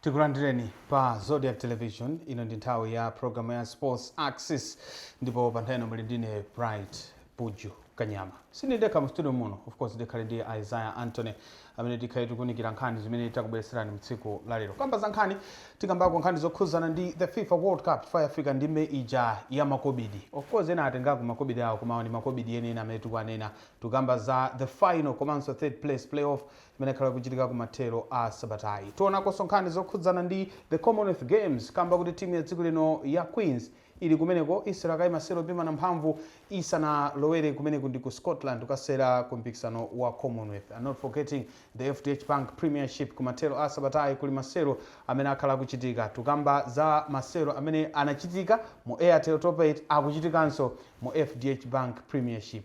tikulandireni pa zodiak television ino ndi nthawi ya programu ya sports axis ndipo pa nthawi ino muli ndine bright buju kanyama sindidekha mu studio muno of course ndikhale ndi isaiah anthony amene tikhale tikuunikira nkhani zimene takubweretserani mu tsiku la lero. Kamba za nkhani, tikambako nkhani zokhuzana ndi the FIFA World Cup chifukwa yafika ndime ija ya makobidi. Of course ena atengako makobidi awo koma awa ndi makobidi enieni amene tikuwanena. Tikukamba za the final komanso third place playoff imene ikhala ikuchitika kumathero a sabatayi. Tionakonso nkhani zokhudzana ndi the Commonwealth Games kamba kuti timu ya dziko lino ya Queens Ili kumeneko, isewerakaye masewero opimana mphamvu isanalowere kumeneko ndi ku Scotland kukasewera ku mpikisano wa Commonwealth and not forgetting the FDH Bank Premiership kumathero a sabatayi kuli masewero amene akhala akuchitika. Tukamba za masewero amene anachitika mu Airtel Top 8 akuchitikanso mu FDH Bank Premiership.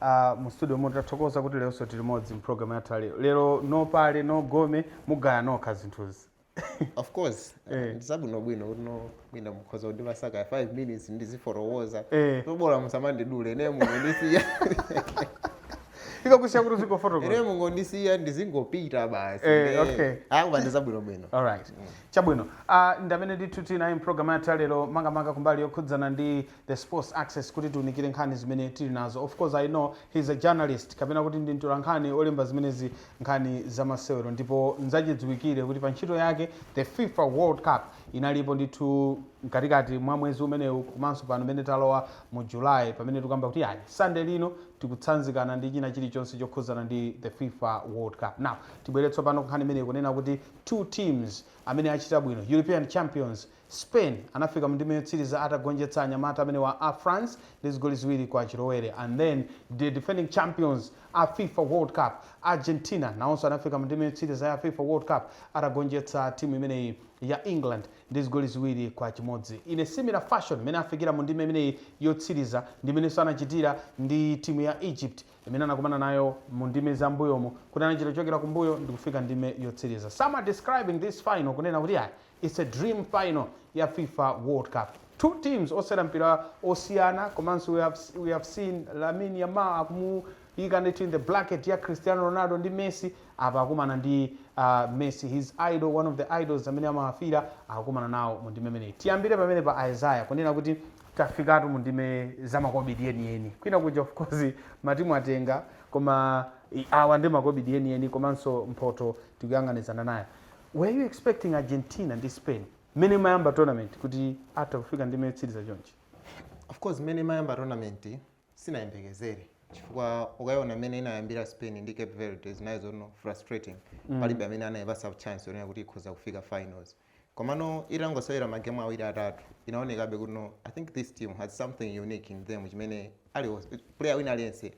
a mu studio muno tathokoza kuti leronso tili limodzi mu program yathu ya lero lero no pale no gome mugaya nokha zinthuzi of course Eh. ndizabwinobwino uno mwina mukhoza kundipasa kaya 5 minutes ndizifotokoza Eh. tobola musamandidule ine mungondisiya tikakusiya kuti uzingofotokoza ine mungondisiya ndizingopita basi Eh, okay. akuba ndizabwinobwino alright chabwino uh, ndamene ndithu tinayi mu pulogalamu yathu ya lero makamaka kumbali yokhudzana ndi the sports axis kuti tiunikire nkhani zimene tili nazo of course i know he is a journalist kapena kuti ndi mtolankhani olemba zimenezi nkhani zamasewero ndipo nzachidziwikire kuti pa ntchito yake the fifa world cup inalipo ndithu mkatikati mwa mwezi umenewu komanso pano pamene talowa mu july pamene tikukamba kuti ayi sande lino tikutsanzikana ndi china chilichonse chokhudzana ndi the fifa world cup now tibwere tsopano nkhani imene ikunena kuti two teams amene achita bwino european champions Spain anafika mu ndime yotsiriza atagonjetsa anyamata amenewa a France ndi zigoli ziwiri kwa chilowere and then the defending champions a fifa world cup Argentina nawonso anafika mu ndime yotsiriza ya fifa world cup atagonjetsa timu imeneyi ya England ndi zigoli ziwiri kwa chimodzi in a similar fashion mmene afikira mu ndime imeneyi yotsiriza ndi mmenenso anachitira ndi timu ya Egypt imene anakumana nayo mu ndime za m'mbuyomu kuti anachita kuchokera kumbuyo ndikufika ndime yotsiriza some are describing this final kunena kuti ayi It's a dream final ya fifa world cup two teams osewera mpira osiyana komanso we have, we have seen Lamine Yamal akumuyika ndithu in the bracket ya Cristiano Ronaldo ndi Messi apa akumana ndi uh, Messi his idol one of the idols amene amawafira akukumana nawo mu ndime imeneyi tiyambire pamenepa Isaiah kunena kuti tafikatu mu ndime zamakobidi enieni kwina kuja of course matimu atenga koma i- awa ndi makobidi enieni komanso mphoto tikuyang'anizana nayo Were you expecting Argentina ndi Spain mmene imayamba tournament kuti atha kufika ndime yotsiriza chonchi? Of course mmene imayamba tournament sinayembekezere chifukwa ukayiona mmene inayambira Spain ndi Cape Verde zinali zoona frustrating mm. palibe amene anayipasa chance yonena kuti ikhoza kufika finals komano itangosewera magemu awiri atatu inaonekabe kuti no i think this team has something unique in them chimene ali player wina aliyense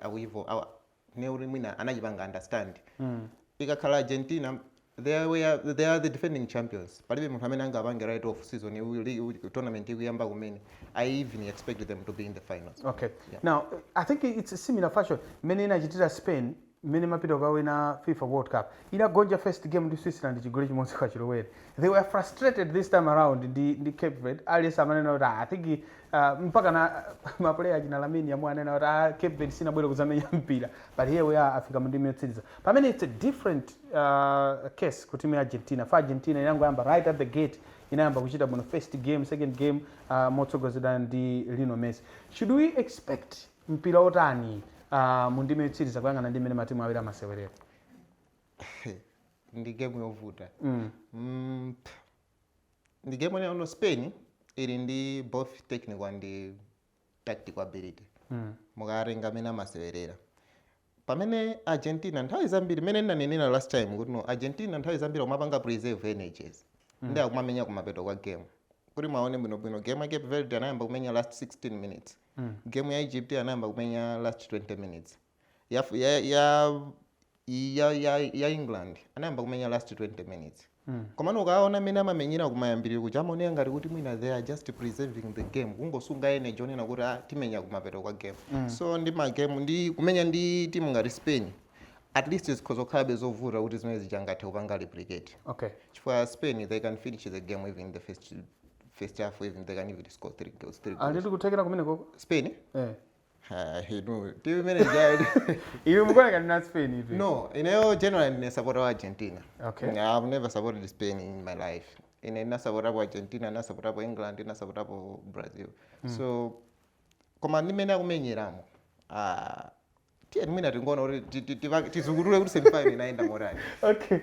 ndiye kuti mwina anachipanga understand mm. ikakhala argentina they are, we are, they are the defending champions palibe munthu amene angapange write off season iwu- ili- iwu- tournament ikuyamba kumene i even expected them to be in the finals okay now i think it's a similar fashion mmene inachitira spain mmene imapita kukawina fifa world cup inagonja first game ndi switzerland chigoli chimodzi kwa chilowere they were frustrated this time around ndi, ndi cape verde aliyense amanena kuti "Ah, i think Uh, mpaka ma mapuleya achina Lamine Yamal anena kuti ah, Cape Verde sinabwere kudzamenya mpira but here we are afika mundime yotsiriza pamene it's a different uh, case ku timu ya Argentina for Argentina inangoyamba right at the gate inayamba kuchita bwino first game second game uh, motsogozedwa ndi Lionel Messi should we expect mpira otani uh, mundime yotsiriza kuyang'ana ndi mmene matimu awiri amasewerera ndi game yovuta mm. mm, pff, ndi game you know spain ili ndi both technical and tactical ability mm. mukatenga mmene amasewerera pamene argentina nthawi zambiri mmene ndinanenera last time kuti no argentina nthawi zambiri akumapanga preserve energies mm. ndi akumamenya kumapeto kwa game kuti muwaone bwinobwino game ya cape verde anayamba kumenya last 16 minutes mm. game ya egypt anayamba kumenya last 20 minutes ya, ya, ya, ya, ya, ya england anayamba kumenya last 20 minutes mm. komano ukaona mmene amamenyera kumayambiriro kuja amaoneka ngati kuti mwina they are just preserving the game kungosunga energy yonena kuti ah, timenya kumapeto kwa game mm. so ndi magame ndi kumenya ndi timu ngati spain at least zikhoza kukhalabe zovuta kuti zimenezi angathe kupanga replicate okay. chifukwa spain they can finish the game even in the first, first half even they can even score three goals, three goals. ali ndi kuthekera kumenekoko spain eh. iwe mukuoneka ndi spain if no ineyo generally ndine supporter wa argentina Okay. i've never supported spain in my life ine ndinasupportapo argentina ndinasupportapo england ndinasupportapo brazil so koma ndi mmene akumenyeramo ah, tiyeni mwina tingoona kuti ti- ti- tiva- tizukutule kuti semifinal inayenda motani okay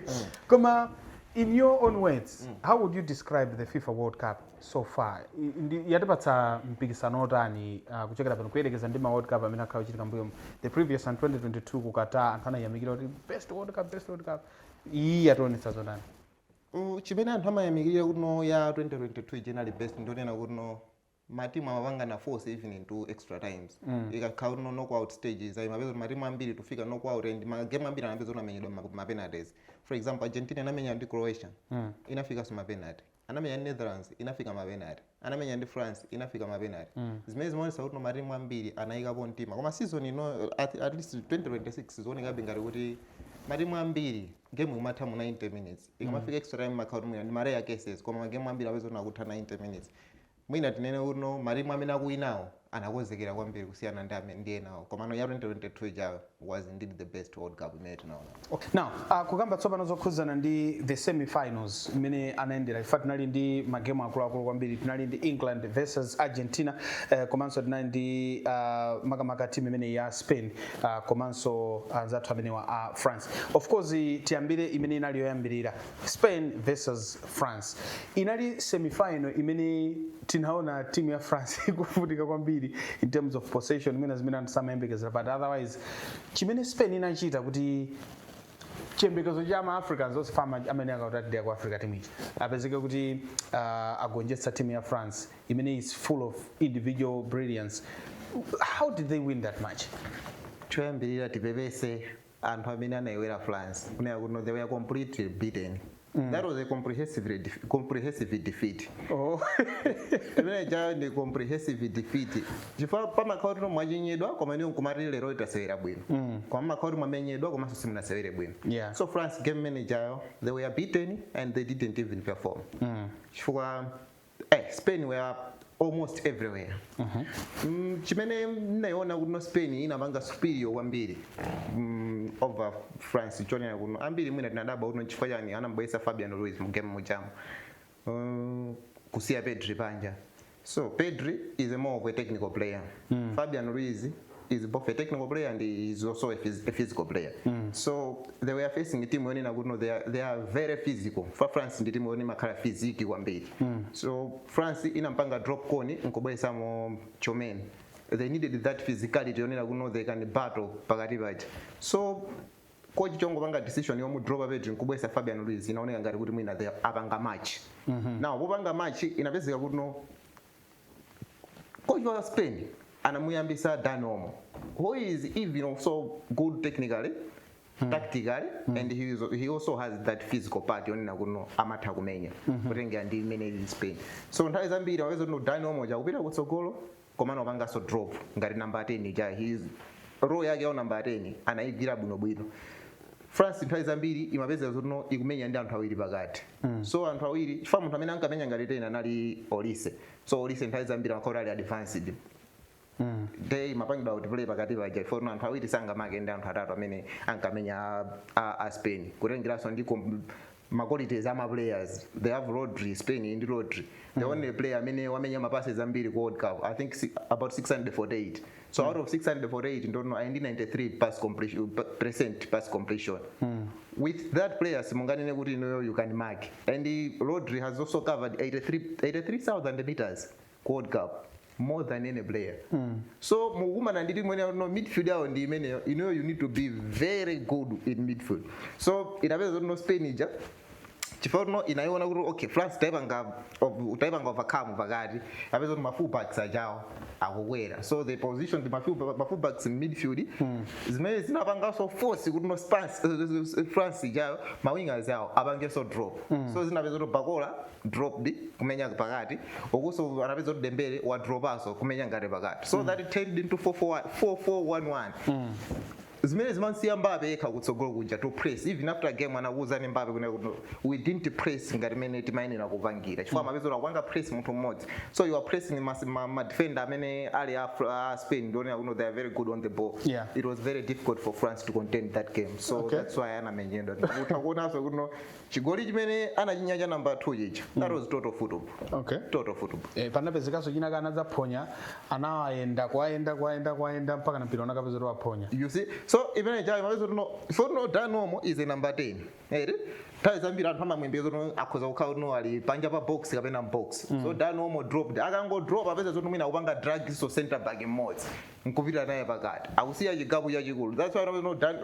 koma in your own words how would you describe the fifa world cup so far i- ndi- yatipatsa mpikisano otani uh, kuchokera pano kuyerekeza ndi ma world cup amene akhala akuchitika mbuyomu the previous and 2022 ku qatar anthu anayamikira kuti best world cup best world cup iyi yationetsa zotani Uh, chimene anthu amayamikirira kuti no ya 2022 generally best nchonena kuti no matimu amapangana force even into extra times mm. ikakhala kuti no knockout stages umapeza kuti matimu ambiri tufika knockout and magame ambiri anapezeka kuti amenyedwa ma- ma penalties for example argentina inamenya ndi croatia mm. inafikanso ma penalty anamenya ndi netherlands inafika mapenati anamenya ndi france inafika mapenati zimene zimaonesa kuti no matimu ambiri anayikapo mtima koma season ino at, at least 2026 zikuonekabe ngati kuti matimu ambiri game ikumatha mu 90 minutes ikamafika extra time makhala kuti mwina ndi ma rare cases koma magemu ambiri akupezeka kuti akutha 90 minutes Mwina tinene kuti no matimu amene akuwinawo anakonzekera kwambiri kusiyana ndi amene ndi enawo komano ya 2022 ijayo was indeed the best world cup imene tinaonapo. Okay, now uh, kukamba tsopano zokhuzana ndi the semifinals imene anayendera ife tinali ndi magemu akuluakulu kwambiri tinali ndi England versus Argentina uh, komanso tinali ndi uh, makamaka timu imene ya Spain uh, komanso anzathu uh, amenewa a France of course tiyambire imene inali yoyambirira Spain vs France inali semifinal imene tinaona timu ya France ikuvutika kwambiri in terms of possession mwina zimene anthu samayembekezera but otherwise chimene Spain inachita kuti chiyembekezo cha ma africans onse fama amene akutadira ku africa team ichi apezeke kuti uh, agonjetsa timu ya france imene is full of individual brilliance how did they win that match choyambirira tipepese anthu amene anaibetchera france kunena kuti no they were completely beaten that was a comprehensive, def- comprehensive defeat oh. imene ijayo ndi comprehensive defeat chifukwa pamakhala kuti mwachinyidwa koma inuyo nkumati lero itasewera bwino koma pamakhala kuti mwamenyedwa komanso simunasewere bwino Yeah. so france game imene ijayo they were beaten and they didn't even perform chifukwa eh, spain were almost everywhere mm, chimene ndinayiona kuti no spain inapanga superior kwambiri mm, over france chonena kuti no ambiri mwina tinadabwa kuti nchifukwa chani anambweretsa fabian ruiz mu game mujamu uh, kusiya pedri panja so pedri is a more of a technical player fabian ruiz is both a technical player and is also a, phys a physical player mm. so they were facing team yonena kuti no they are, they are very physical for france ndi timu yoti imakhala physique kwambiri mm. so france inampanga drop kone nkubweresamo tchouameni they needed that physicality yonena kuti no they can battle pakati paja so coach chongopanga decision yomu drop pedri nkubwesa Fabian Ruiz inaoneka ngati kuti mwina they apanga match mm -hmm. now popanga match inapezeka kuti no Coach wa Spain anamuyambisa Dani Olmo who is even also good technically hmm. tactically hmm. and he, is, he also has that physical part yonena kuno amatha kumenya hmm. kutengera ndi imene ili Spain so nthawi zambiri wapeza kuti Dani Olmo ja akupita kutsogolo komano apanganso drop ngati namba 10 ja his role yake ya namba 10 anayigwira bwinobwino France nthawi zambiri imapezeka zoti no ikumenya ndi anthu awiri pakati so anthu awiri chifukwa munthu amene ankamenya ngati 10 anali Olise so Olise nthawi zambiri amakhala ali advanced nde imapangidwa kuti play pakati paja chifukwa anthu awiri sangamake ndi anthu atatu amene ankamenya a, a, a Spain kutengeranso ndi kom- ma qualities ama players they have Rodri Spain ndi Rodri the mm. only player amene wamenya ma passes ambiri ku World Cup I think si, about 648 so mm. out of 648 ndono ayi ndi 93 pass completion percent pass completion mm. with that player simunganene kuti inoyo you can mark and Rodri has also covered 83 83000 meters World Cup more than any player. So mukumana ndi timu ineyo no midfield yawo ndi imeneyo ineyo you need to be very good in midfield. So inapeza kuti no Spain ija chifukwa kuti no inaiona kuti okay France taipanga of- taipanga overcome pakati apeza kuti ma fullbacks ajawo akukwera so they position the ma full- ma fullbacks in midfield zimene zinapanganso force kuti no Spans- eh, eh, eh, France ijayo ma wingers ajawo apangenso drop so zinapeza kuti Barcola dropped kumenya pakati ukuso anapeza kuti Dembele wadropaso kumenya ngati pakati so mm. that turned into 4411 mm. zimene zimamsiya Mbappe yekha kutsogolo kuja to press even after game anakuwuzani Mbappe kunena kuti we didn't press ngati mene timayenera kupangira chifukwa mm. amapezeka akupanga press munthu mmodzi so you are pressing madefender amene ali a uh, Spain yonena kuno they are very good on the ball yeah. it was very difficult for France to contain that game so okay. that's why anamenyedwa utha kuonaso kuno Chigoli chimene anachinya cha number 2 chija. That was total football. Okay. Total football. Eh, panapezekaso china anadzaphonya anawayenda kwayenda kwayenda kwayenda mpaka na mpira unakapezeka kuti waphonya You see? So imene ijayo umapeza kuti no so kuti no Dani Olmo is a number 10. Eti? Nthawi zambiri anthu amamuyembekeza kuti no akhoza kukhala kuti no ali panja pa box kapena m'box. So Dani Olmo dropped. Akangodrop apeza zoti mwina akupanga drag so center back mmodzi. Nkupita naye pakati. Akusiya chigapu chachikulu. That's why kuti no Dan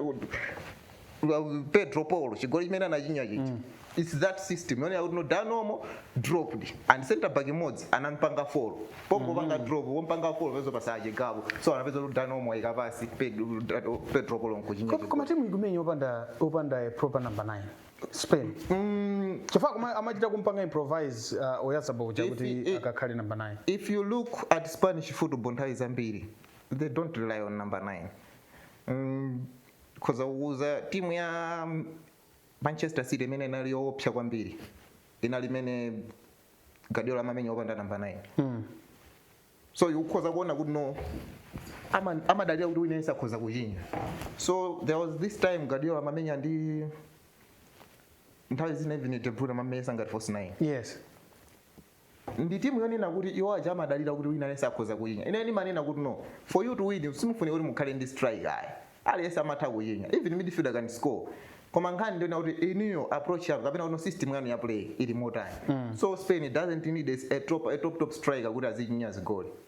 uh, Pedro Porro chigoli chimene anachinya chija it's that system yonena kuti no Dani Olmo dropped and center back mmodzi anampanga follow pongopanga drop wompanga follow apeza pasala gap so anapeza kuti Dani Olmo ayika pass Pedro Pedro Porro nkuchinya Koma- koma timu ikumenya opanda opanda a proper number 9 Spain Mm, chifukwa kuma- amachita kumpanga improvise uh, Oyarzabal uja If kuti he- akakhale number 9 if you look at Spanish football nthawi zambiri they don't rely on number 9 mm, Ndikhoza kukuuza timu ya Manchester City imene inali yoopsa kwambiri inali imene Guardiola amamenya opanda namba 9 mm. so ukhoza kuona kuti no ama- amadalira kuti wina yense akhoza kuchinya so there was this time Guardiola amamenya ndi nthawi zina even De Bruyne amamenya ngati false 9 yes ndi timu yonena kuti iwo aja amadalira kuti wina aliyense akhoza kuchinya ine ndimanena kuti no for you to win simufunika kuti mukhale ndi strike ayi aliyense amatha kuchinya even midfielder can score koma nkhani ndi yonena kuti inuyo approach yanu kapena kuti system yanu ya play ili motani so spain doesn't need a, a, top, a top top striker kuti azichinya zigoli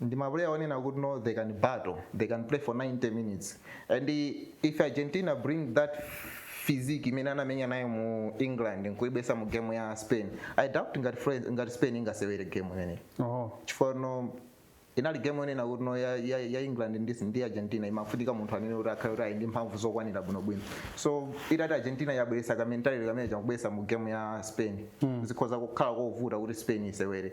ndi ma player onena kuti no they can battle they can play for 90 minutes and if argentina bring that physique imene anamenya nayo mu england nkuibweretsa mu game ya spain i doubt ngati, Fran- ngati spain ingasewere game imeneyi oh. chifukwa no inali game yonena kuti no ya, ya, ya england ndi, ndi argentina imafunika munthu amene kuti akhale kuti ali ndi mphamvu zokwanira bwinobwino so itati argentina yabweretsa ka mentality kameneka nkubweretsa mu game ya spain mm. zikhoza kukhala kovuta kuti spain isewere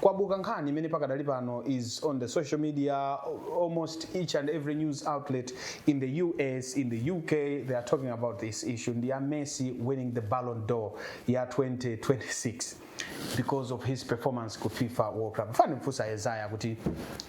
Kwabuka nkhani imene pakadali pano is on the social media almost each and every news outlet in the US, in the UK they are talking about this issue ndi ya Messi winning the Ballon d'Or ya 2026 because of his performance ku FIFA World Cup. Fani mfusa Isaiah kuti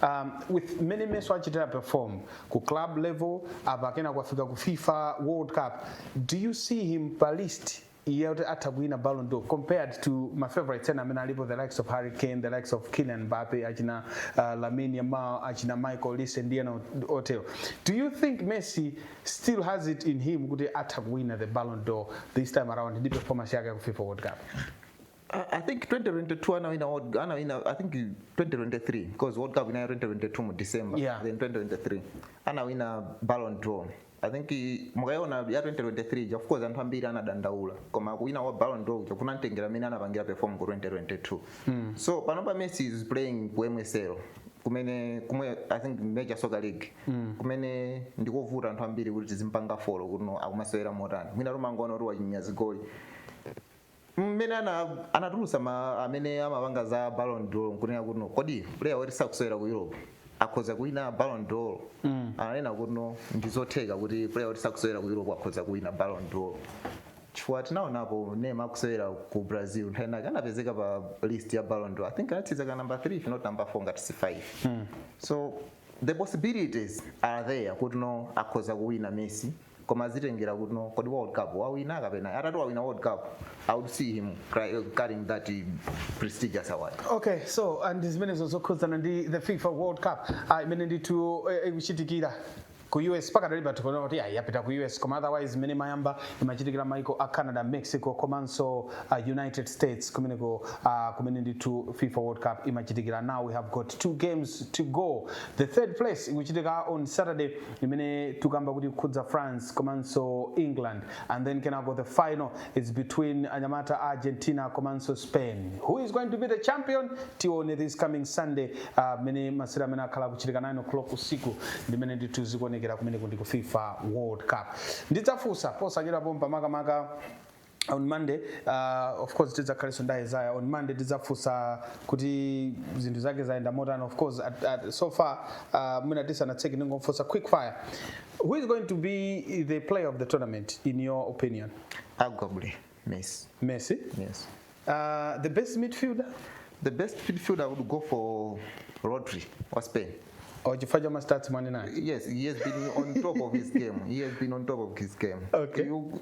um, with many Messi wachitira perform ku club level apa kena kwafika ku FIFA World Cup. Do you see him pa list iye kuti atha kuwina Ballon d'Or compared to ma favorites ena amene alipo the likes of Harry Kane the likes of Kylian Mbappe achina uh, Lamine Yamal achina Michael Olise ndi ena otero do you think Messi still has it in him kuti atha kuwina the Ballon d'Or this time around ndi performance yake ya ku FIFA World Cup I, I think 2022 anawina World- anawina i think 2023 because world cup inali 2022 mu december Yeah. then 2023 anawina ballon d'or i think i- mukayiona ya 2023 ja of course anthu ambiri anadandaula koma kuwina wa ballon d'or ja kunamtengera mmene anapangira perform ku 2022 so panopa messi is playing ku mls kumene kumwe i think major soccer league kumene ndikovuta anthu ambiri kuti tizimpanga follow kuti no akumasewera motani mwina timangoona kuti wachinya zigoli mmene ana anatulusa ma amene amapanga za Ballon d'Or nkunena kuti no kodi player woti sakusewera ku Europe akhoza kuwina Ballon d'Or mm. ananena kuti no ndizotheka kuti player woti sakusewera ku Europe akhoza kuwina Ballon d'Or chifukwa tinaonapo Neymar akusewera ku Brazil nthawi inake anapezeka pa list ya Ballon d'Or I think anatsiriza ka number 3 if not number 4 ngati si 5 mm. so the possibilities are there kuti no akhoza kuwina Messi koma zitengera kuti no kodi world cup wawina kapena atati wawina world cup i would see him cry- carrying that eh, prestigious award okay so and zimenezo zokhudzana ndi the fifa world cup ah, imene ndithu eh, ikuchitikira ku us pakadali tikuona kuti yapita ku us koma otherwise mmene imayamba imachitikira maiko a canada mexico komanso uh, united states kumeneko uh, kumene ndithu fifa world cup imachitikira now we have got two games to go the third place ikuchitika on saturday imene tikukamba kuti ikukhudza france komanso england and then kenako the final is between anyamata a argentina komanso spain who is going to be the champion tione this coming sunday ah, mmene uh, masewera amene akhala akuchitika 9 o'clock usiku ndimene ndithu zikuonekera kumeneko ndi ku fifa world cup ndidzafunsa posachedwa pompa makamaka on monday uh, of course tidzakhalenso ndi isaiah on monday tidzafunsa kuti zinthu zake zayenda motani of course at, at, so far uh, mwina tisanatseke ndingomfunsa quick fire who is going to be the player of the tournament in your opinion Arguably, Messi. messi Yes. uh, the best midfielder The best midfielder would go for Rodri or Spain. or chifukwa cha mastats mwanena Yes, he has been on top of his game. He has been on top of his game. Okay. You,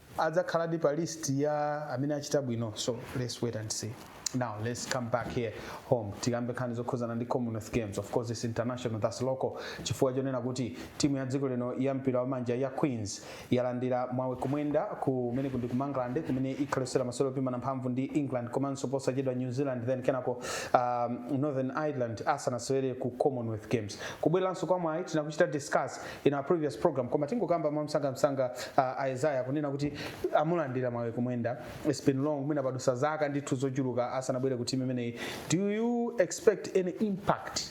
adzakhaladi pa list ya amene achita bwino so let's wait and see now let's come back here home tikambe nkhani zokhuzana ndi commonwealth games of course it's international that's local chifukwa chonena kuti timu ya dziko lino ya mpira wa manja ya queens yalandira mwawi kumwenda kumene kundi ku England kumene ikhale ikusewera masewero opimana mphamvu ndi england komanso posachedwa new zealand then kenako um, northern ireland asanasewere ku commonwealth games kubweranso kwa mwayi tinakuchita discuss in our previous program koma tingokamba mwamsangamsanga uh, Isaiah kunena kuti amulandira mwawi kumwenda it's been long mwina padusa zaka ndithu zochuluka asanabwere ku timu imeneyi do you expect any impact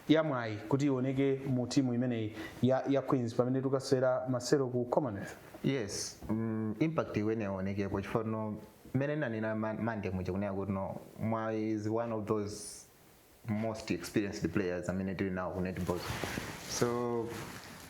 ya mwawi kuti ioneke mu timu imeneyi ya, ya queens pamene tikasewera masewero ku commonwealth yes mm, impact iyeneyo ionekepo chifukwa mmene ndinanena ma- mande muja kunena kuti no mwawi is one of those most experienced players amene tili nawo ku netball so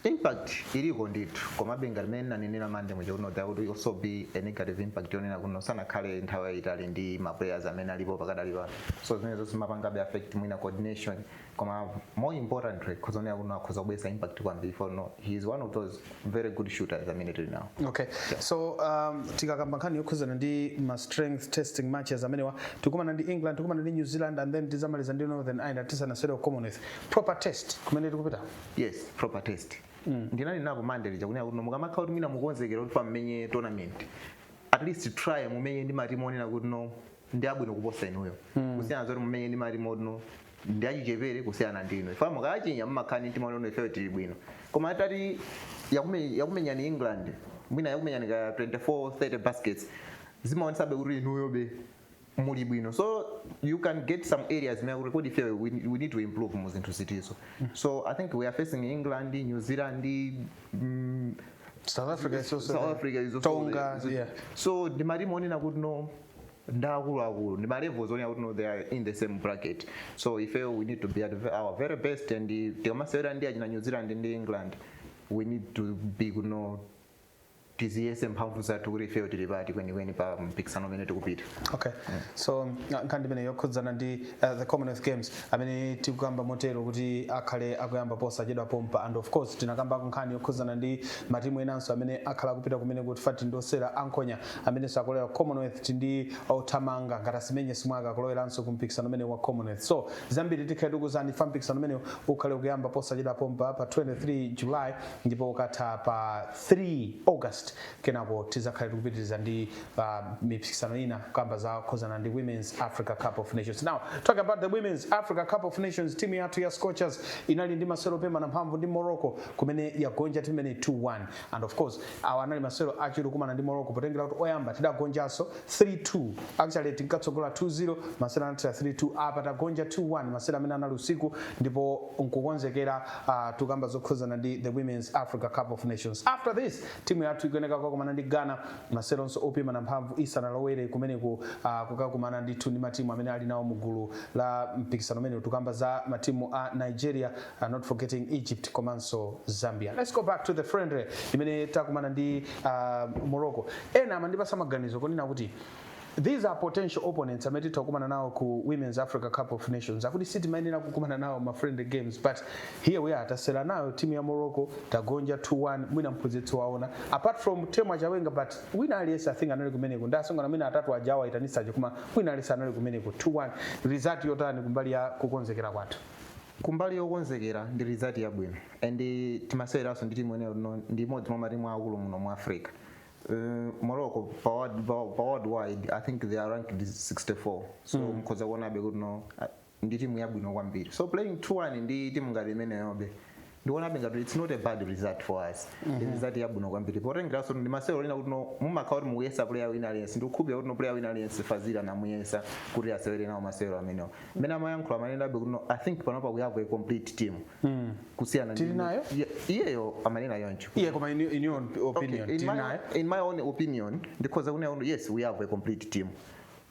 impact iliko ndithu komabe ngati mmene ndinanenera mande muja kuno there would also be a negative impact yonena kuno sanakhale nthawi yayitali ndi ma players amene alipo pakadali pano so zimenezo zimapangabe affect mwina coordination koma more importantly ndikuonera kuno akhoza kubweretsa impact kwambiri for no he is one of those very good shooters amene tili nawo okay so um, tikakamba nkhani yokhuzana ndi ma strength testing matches amenewa tikumana ndi england tikumana ndi new zealand and then tizamaliza ndi northern ireland tisanasewere ku commonwealth proper test kumene tikupita yes proper test mm. ndinanenapo mande lija kunena kuti mukamakhala kuti mwina mukonzekera kuti mukamenye tournament at least try mumenye ndi matimu onena kuti no ndi abwino kuposa inuyo kusiyana zoti mumenye ndi matimu oti no ndi achichepere kusiyana ndi inu chifukwa mukachinya mumakhala ndi mtima woti ifeyo tili bwino koma itati yakume- yakumenyani england mwina yakumenyani ka 24 30 baskets zimaonesabe kuti inuyobe muli bwino so you can get some areas zonena kuti kodi ifeyo we, we need to improve mu zinthu ziti so i think we are facing england new zealand mm, south africa is also South Africa is also- tonga is- yeah. so ndi matimu onena kuti no ndi akulu akulu ndi ma levels onena kuti no they are in the same bracket so if we need to be at our very best and tikamasewera ndi achina New Zealand ndi England we need to be kuno tiziyese mphamvu zathu kuti ifeyo tili pati kwenikweni pa mpikisano umene tikupita okay yeah. so nkhani imene yokhudzana ndi uh, the commonwealth games amene tikukamba motero kuti akhale akuyamba posachedwa pompa and of course tinakambako nkhani yokhudzana ndi matimu enanso amene akhala akupita kumene kuti pali osewera ankhonya amenenso akulowera commonwealth ndi othamanga ngati asimenye simwaka kuloweranso ku mpikisano umenewu wa commonwealth so zambiri tikhale tikukuuzani chifukwa mpikisano umenewu ukhale ukuyamba posachedwa pompa pa 23 july ndipo ukatha pa 3 august kenako tizakhale tikupitiriza ndi uh, mipikisano ina kamba zokhuzana ndi women's africa cup of nations now talk about the women's africa cup of nations timu yathu ya scorchers inali ndi masewero opimana mphamvu ndi morocco kumene yagonja timu imeneyi 2-1 and of course awa anali masewero achiwiri kumana ndi morocco potengera kuti oyamba tidagonjanso 3-2 actually tinkatsogola 2-0 masewero anathera 3-2 apa tagonja 2-1 masewero amene anali usiku ndipo nkukonzekera uh, tukamba zokhuzana ndi the women's africa cup of nations after this timu yathu ikuyeneka kukakumana ndi ghana maseweronso opimana mphamvu isanalowere kumeneku uh, kukakumana ndithu ndi matimu amene ali nawo mu gulu la mpikisano umenewu tukamba za matimu a nigeria uh, not forgetting Egypt komanso Zambia. Let's go back to the friendly imene takumana ndi uh, Morocco. Ena amandipatsa maganizo kunena kuti these are potential opponents amene titha kukumana nawo ku women's africa cup of nations akuti sitimayenera kukumana nawo ma friendly games but here we are tasewera nayo timu ya morocco tagonja 2-1 mwina mphunzitsi waona apart from temwa chawinga but wina aliyense i think anali kumeneko ndi atsikana mwina atatu aja awaitanitsa aja koma wina aliyense anali kumeneko 2-1 result yotani kumbali ya kukonzekera kwathu kumbali yokonzekera ndi result yabwino and timaseweranso ndi timu yonena kuti no ndi imodzi mwa matimu akulu muno mu africa Uh, morocco pa world- pa- pa world wide i think they are ranked 64 so mm. mkhoza kuonabe kuti no uh, ndi timu yabwino kwambiri so playing 2-1 ndi timu ngati imeneyobe ndikuonabe ngati its not a bad result for us ndi result yabwino kwambiri potengeranso ndi masewero onena kuti no mumakhala kuti mukuyesa player wina aliyense ndikukhulupirira kuti no player wina aliyense fazili anamuyesa kuti asewere nawo masewero amenewo mmene amayankhula amanenabe kuti no i think panopa we have a complete team kusiyana ndi- Tili nayo? Iye- iyeyo amanena choncho iye koma in, in your opinion Okay, in, tili my, nayo in my own opinion ndikhoza kunena kuti yes we have a complete team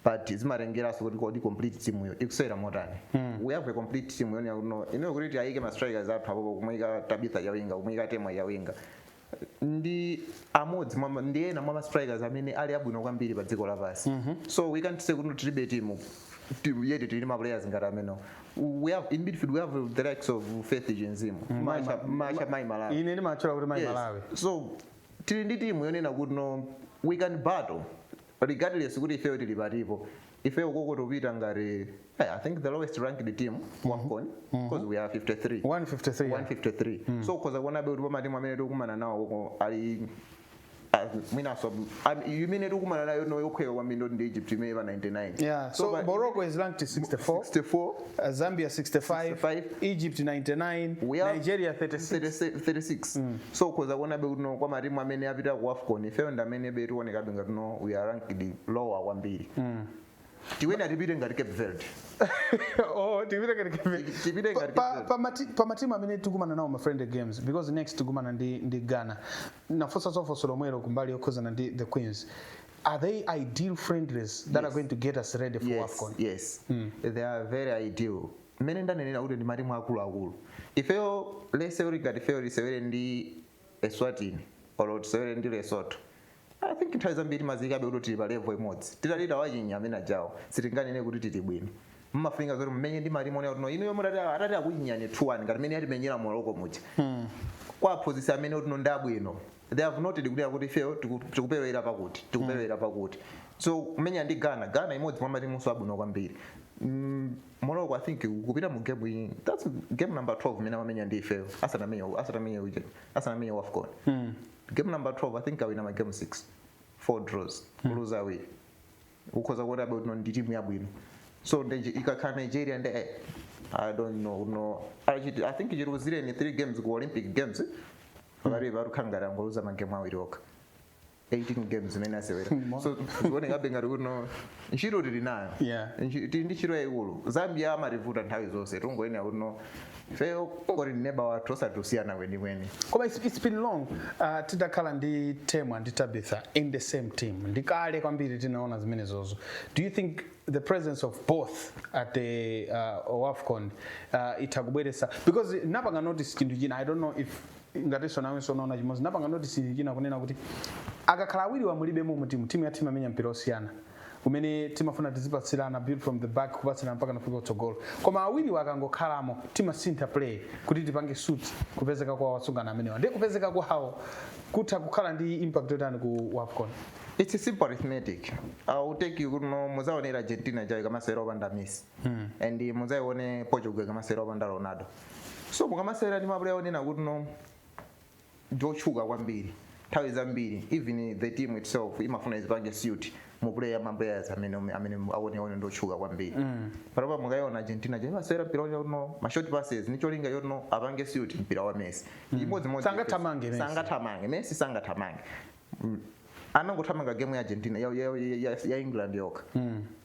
but zimatengeranso kuti kodi complete team yo ikusewera motani we have a complete team yonena kuti no inuyo kuti tiayike ma strikers athu apopo kumuyika tabitha chawinga kumuyika temwa chawinga ndi amodzi mwa ma- ndi ena mwa ma strikers amene ali abwino kwambiri pa dziko lapansi so we can't say kuti tilibe timu ti- yeti tili ma players ngati amenewo we have in midfield we have the likes of faith chinzimu macha macha mayi malawi ine ndimatchula kuti mayi Yes. malawi so tili ndi timu yonena kuti no we can battle regardless kuti ifeyo tili patipo ifeyo ukoko tupita ngati eh, i think the lowest ranked team wafcon because we are 53 153 yeah. 153 so ukhoza kuonabe kuti pamatimu amene tikukumana nawo uko ali as- mwinanso am- imene tikukumana nayo no yokhweka kwambiri ndithu ndi egypt imene pa 99 Yeah, so, pa- Morocco is ranked 64. 64 Uh, Zambia 65, 65. Egypt 99, We have Nigeria 36. 36 36 so ukhoza kuonabe kuti no kwa matimu amene apita ku wafcon ifeyo ndi amenebe tionekabe ngati no we are ranked lower kwambiri tinena tipite ngati cape verde oh, tipite ngati Cape- tipite Pa- ngati pa- Cape Verde. pa mati- pa matimu amene tikumana nawo ma friendly games because next tikumana ndi, ndi ghana ndinafunsa funso lomwelo kumbali yokhuzana ndi the queens are they ideal friendlies that yes. are going to get us ready for yes, AFCON? Yes, mm. they are very ideal. mmene ndanenera kuti ndi matimu akuluakulu ifeyo let's say ngati ifeyo tisewere ndi eswatini olo tisewere ndi lesotho i think nthawi zambiri timadziikabe kuti tili pa levo imodzi titati tawachinya amene ajawo sitinganene kuti tili bwino mumafunika zoti mumenye ndi matimu onena kuti no inuyo mutati atati akuchinyani 2 1 ngati mmene anatimenyera Morocco muja hmm. kwa aphunzitsi amene kuti no ndi abwino they have noted kuti akuti ifeyo tiku- tikuperewera pakuti tikuperewera pakuti so kumenya ndi ghana ghana imodzi mwa matimunso abwino kwambiri Mm, morocco i think kupita mu game iyi that's game number 12 imene amamenya ndi ifeyo asanamenye asanamenye uje asanamenye wafcon game number 12 i think awina ma game 6 four draws kuluza awiri ukhoza kuonabe kuti no ndi timu yabwino so nde nji- ikakhala nigeria nde eh, i don't know no achiti i think chiluzireni three games ku olympic games pakati pakukhala ngati angoluza magemu awiri okha 18 games imene asewera so zikuonekabe ngati kuti no ntchito tili nayo Yeah. Nchi- tili ndi ntchito yayikulu zambia amativuta nthawi zonse tungoyenera kuti no ifeyo kungoti neba wathu osati kusiyana kwenikweni koma it's, it's been long uh, tidakhala ndi temwa ndi tabitha in the same team ndi kale kwambiri tinaona zimenezozo do you think the presence of both at the uh, wafcon uh, itha kubweresa because napanga notice chinthu china i don't know if ngatinso nawenso unaona chimodzi napanga notice chinthu china kunena kuti akakhala awiriwa alibemo mu timu timu ya timu imamenya mpira osiyana umene timafuna tizipatsirana build from the back kupatsirana mpaka tafika kutsogolo koma awiriwa akangokhalamo timasintha play kuti tipange suit kupezeka kwa atsikana amenewa ndiye kupezeka kwawo kutha kukhala ndi impact yotani ku wafcon It's a simple arithmetic. Uh, utenge kuti no muzaione Argentina ijayo ikamasewera opanda Messi. Mm. And muzaione Portugal ikamasewera opanda Ronaldo. So mukamasewera ndi mapuleya onena kuti no ndiotchuka kwambiri nthawi zambiri even the team itself imafuna izipange suit mu player ma players amene amene akuwaona ndiotchuka kwambiri mm. panopa mukaiona Argentina ija imasewera mpira woti no ma short passes ndi cholinga choti no apange suit mpira wa Messi mm. imodzi modzi sangathamange Messi sangathamange Messi sangathamange mm. anangothamanga game ya Argentina ya, ya, ya, ya England yokha mm.